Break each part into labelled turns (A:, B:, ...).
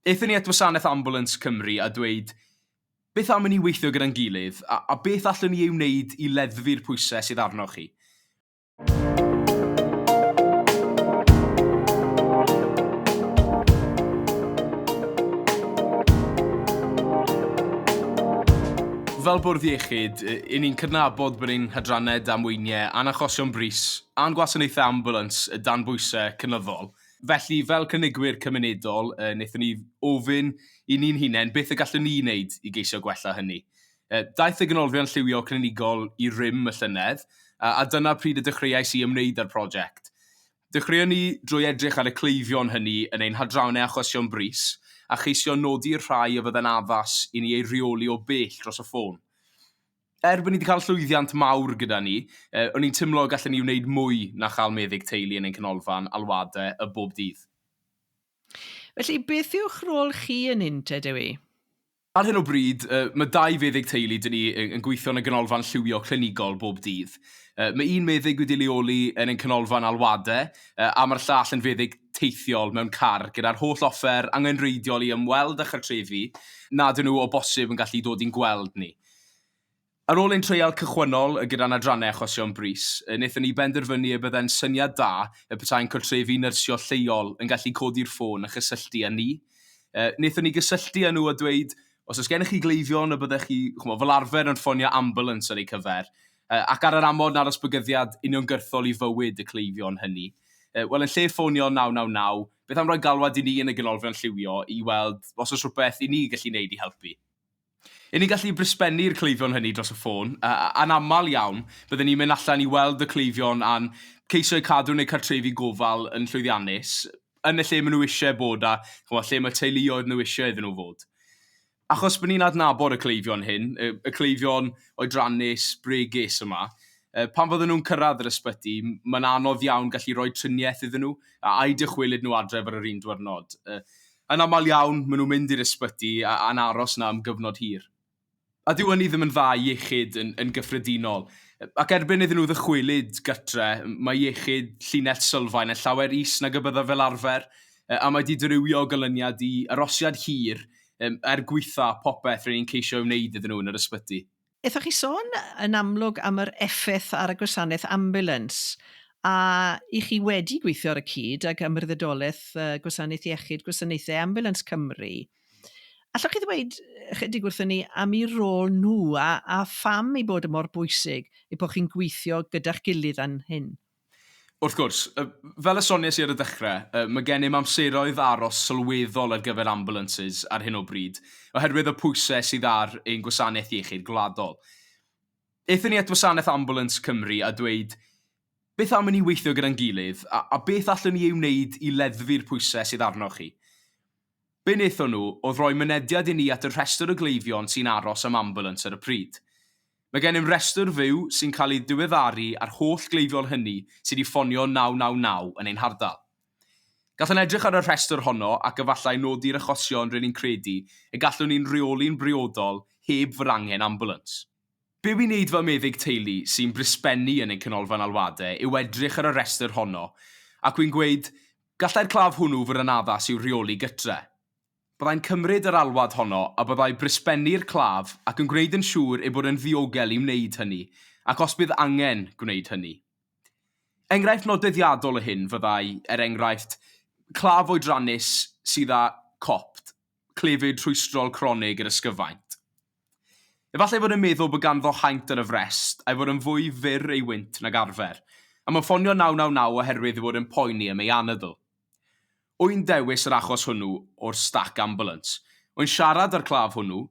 A: Aethon ni at wasanaeth Ambulance Cymru a dweud, 'Beth am i ni weithio gyda'n gilydd, a a beth allwn ni ei wneud i leddfu'r pwysau sydd arnoch chi? Fel Bwrdd Iechyd, i ni'n cydnabod bod ein hadrannau damweiniau a'n achosion brys a'n gwasanaethau ambiwlans dan bwysau cynyddol. Felly, fel cynigwyr cymunedol, wnaethon ni ofyn i ni'n hunain beth y gallwn ni wneud i geisio gwella hynny. Daeth y Ganolfan Lliwio Clinigol i rym y llynedd, a dyna pryd y dechreuais i ymwneud â'r prosiect. Dechreuon ni drwy edrych ar y cleifion hynny yn ein hadrannau achosion brys, a cheisio nodi'r rhai a fydde'n addas i ni eu rheoli o bell dros y ffôn. Er bod ni wedi cael llwyddiant mawr gyda ni, o'n i'n timlo y gallen ni wneud mwy na chael meddyg teulu yn ein canolfan alwade y bob dydd.
B: Felly, beth yw'ch rôl chi yn Inter Dewi? Ar hyn o
A: bryd, mae dau feddyg teulu da ni yn gweithio yn y ganolfan lliwio clinigol bob dydd. Mae un meddyg wedi leoli yn ein canolfan alwade a mae'r llall yn feddyg teithiol mewn car gyda'r holl offer angenrheidiol i ymweld â chartrefi nad yw nhw o bosib yn gallu dod i'n gweld ni. Ar ôl ein treial cychwynnol gyda'n adrannau achosion brys, wnaethon ni benderfynu y byddai'n syniad da y petai'n cartrefi nyrsio lleol yn gallu codi'r ffôn a chysylltu â ni. Wnaethon ni gysylltu â nhw a dweud, os oes gennych chi gleifion y byddech chi, chimod, fel arfer yn ffonio ambulance ar eu cyfer, ac ar yr amod na'r oes bygythiad uniongyrchol i fywyd y cleifion hynny. Wel, yn lle ffonio 999, beth am roi galwad i ni yn y Ganolfan Lliwio i weld os oes rhywbeth i ni gallu neud i helpu? I ni gallu brysbennu'r cleifion hynny dros y ffôn, a, anaml iawn, bydden ni'n mynd allan i weld y cleifion a'n ceisio eu cadw yn eu cartrefi gofal yn llwyddiannus, yn y lle maen nhw eisiau bod a, chimod, lle mae teuluoedd nhw eisiau iddyn nhw fod. Achos bod ni'n adnabod y cleifion hyn, y, y cleifion oedrannus, bregus yma, e, pan fydden nhw'n cyrraedd yr ysbyty, mae'n anodd iawn gallu rhoi triniaeth iddyn nhw, a, a'u dychwelyd nhw adref ar yr un diwrnod. E, Yn aml iawn, maen nhw'n mynd i'r ysbyty a'n aros yna am gyfnod hir. A dyw hynny ddim yn dda i iechyd yn gyffredinol. Ac erbyn iddyn nhw ddychwelyd gytre, mae iechyd llinell Sylfaen yn llawer is nag y byddaf fel arfer, a mae 'di dirywio o ganlyniad i arosiad hir er gwaetha' popeth ry'n ni'n ceisio ei wneud iddyn nhw yn yr ysbyty. Aethoch chi sôn
B: yn amlwg am yr effaith ar y gwasanaeth ambiwlans, a y'ch chi wedi gweithio ar y cyd ag Ymwrddydolaeth Gwasanaeth Iechyd Gwasanaethau Ambiwlans Cymru. Allwch chi ddweud ychydig wrthyn ni am eu rôl nhw a, a pham ei bod yn mor bwysig eu bod chi'n gweithio gyda'ch gilydd fan hyn? Wrth gwrs,
A: fel y sonies i ar y dechrau, mae gennym amseroedd aros sylweddol ar gyfer ambulances ar hyn o bryd oherwydd y pwysau sydd ar ein gwasanaeth iechyd gwladol. Aethon ni at Wasanaeth Ambulans Cymru a dweud, 'Beth am i ni weithio gyda'n gilydd, a beth allwn ni ei wneud i leddfu'r pwysau sydd arnoch chi? Be wnaethon nhw oedd rhoi mynediad i ni at y rhestr o gleifion sy'n aros am ambiwlans ar y pryd. Mae gennym restr fyw sy'n cael ei ddiweddaru a'r holl gleifion hynny sydd wedi ffonio 999 yn ein hardal. Gallwn edrych ar y rhestr honno ac efallai nodi'r achosion rŷn ni'n credu y gallwn ni'n rheoli'n briodol heb fod angen ambiwlans. Be wi'n neud fel meddyg teulu sy'n blisbennu yn ein canolfan alwadau yw edrych ar y rhestr honno ac wi'n gweud, 'Gallai'r claf hwnnw fod yn addas i'w rheoli gytre'. Byddai'n cymryd yr alwad honno a byddai blisbennu'r claf ac yn gwneud yn siŵr ei bod yn ddiogel i wneud hynny ac os bydd angen gwneud hynny. Enghraifft nodweddiadol o hyn fyddai, er enghraifft, claf oedrannus sydd â copt clefyd rhwystrol cronig yr ysgyfaint. Efallai ei fod yn meddwl bod ganddo haint ar y frest, a'i fod yn fwy fyr ei wynt nag arfer, am yn ffonio 999 oherwydd ei fod yn poeni am ei anadl. Wy'n dewis yr achos hwnnw o'r stac ambulance. Wy'n siarad â'r claf hwnnw,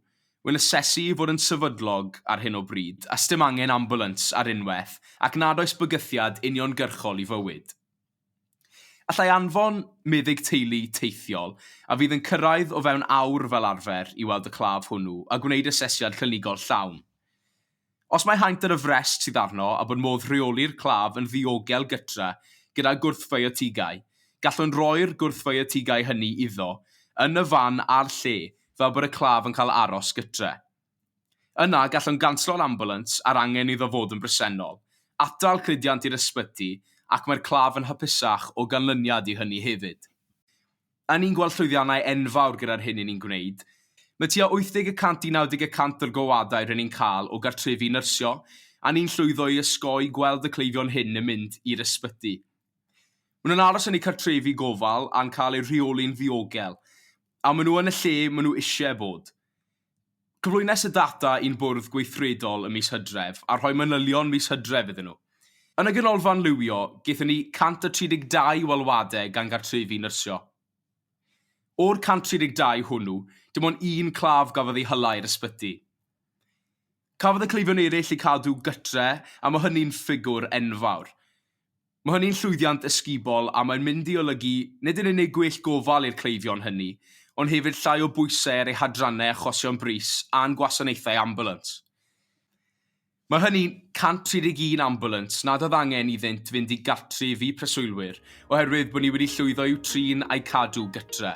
A: wy'n asesu ei fod yn sefydlog ar hyn o bryd, a sdim angen ambulance ar unwaith, ac nad oes bygythiad uniongyrchol i fywyd. Allai anfon meddyg teulu teithiol, a fydd yn cyrraedd o fewn awr fel arfer, i weld y claf hwnnw a gwneud asesiad clinigol llawn. Os mae haint ar y frest sydd arno a bod modd rheoli'r claf yn ddiogel gytre gyda gwrthfiotigau, gallwn roi'r gwrthfiotigau hynny iddo yn y fan a'r lle fel bod y claf yn cael aros gytre. Yna, gallwn ganslo'r ambulans a'r angen iddo fod yn bresennol, atal cludiant i'r ysbyty ac mae'r claf yn hapusach o ganlyniad i hynny hefyd. Y'n ni'n gweld llwyddiannau enfawr gyda'r hyn y'n ni'n gwneud. Mae tua 80 y cant i 90 y cant o'r gowadau rŷn ni'n cael o gartrefi nyrsio, a ni'n llwyddo i osgoi gweld y cleifion hyn yn mynd i'r ysbyty. Maen nhw'n aros yn eu cartrefi gofal a'n cael eu rheoli'n ddiogel, a maen nhw yn y lle maen nhw eisiau bod. Cyflwynes y data i'n Bwrdd Gweithredol ym mis Hydref a rhoi manylion mis Hydref iddyn nhw. Yn y Ganolfan Lywio, gaethon ni 132 o alwadau gan gartrefi nyrsio. O'r 132 hwnnw, dim ond un claf gafodd ei hala i'r ysbyty. Cafodd y cleifion eraill eu cadw gytre a mae hynny'n ffigwr enfawr. Mae hynny'n llwyddiant ysgubol a mae'n mynd i olygu nid yn unig gwell gofal i'r cleifion hynny, ond hefyd llai o bwysau ar eu hadrannau achosion brys a'n gwasanaethau ambiwlans. Mae hynny'n 131 ambiwlans nad oedd angen iddynt fynd i gartref i preswylwyr oherwydd bod ni wedi llwyddo i'w trin a'u cadw gytre.